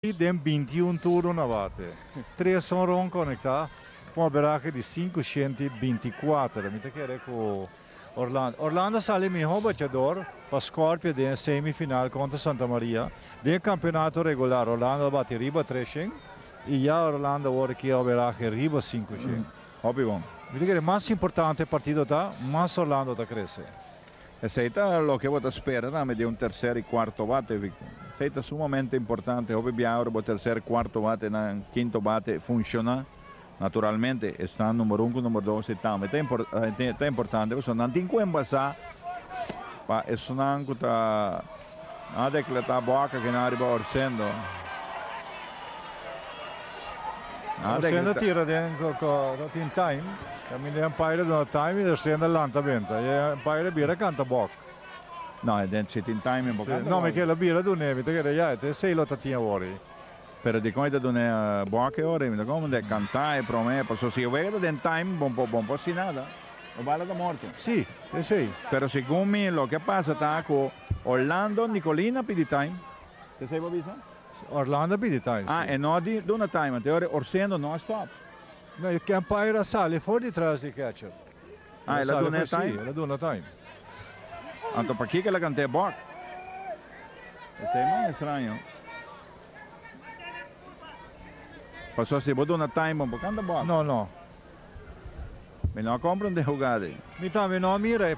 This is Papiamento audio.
Den bintiun turno na bate, tres honron konektá pa un averahe di sinku shenti binti kuater. Mi ta kere ku Orlando. Orlando sali e mihó bachador pa Scorpio den e semi final kontra Santa Maria. Den e kampionato regular Orlando a bati riba tres shen i ya Orlando wòrdu ku e averahe riba sinku shen. Hopi bon. Mi ta kere mas importante e partido ta, mas Orlando ta krese. Esei ta loke bo ta spera tambe di un terser i kuarto bate, Victor. Esei ta sumamente importante. Hopi bia ora bo terser, kuarto bate na kinto bate funshoná, naturalmente esnan number un ku number dos e tambe ta impor ta importante pasobra nan tin ku enbasá pa esnan ku ta A decleta boaca ki na riba Orsendo. A decleta. Orsendo tira den cu no tin time. Caminda e umpire a duna time y Orsendo a lanta benta. Y e umpire a bira a canta boc. No, den si tin time bo canta boc. No, mi kere lo bira duna e bita kere ya. Te seis lo ta tin awor. Pero dikon e ta duna e bòk e ora? E mester kòmandá e kantá e promé e pasó. Si e wega ta den taim, bon por bon por hasi nada. E bala ta morto. Sí, esei. Pero segun mi, loke a pasa ta ku Orlando Nicolin a pidi taim. Esei bo a bisa? Sí, Orlando a pidi taim, sí. Ah, e no a duna taim anto e ora e Orsendo no a stòp. No, e umpire a sali for detras di e kètcher. Ah, el a duna e taim? Sí, el a duna taim. Anto pakiko el a kantá e bòk? E ta e mas estraño. Paso si bo duna time bo canta bos. No no. Mi no a compra un degugada ey. Mi tambe no a mira e.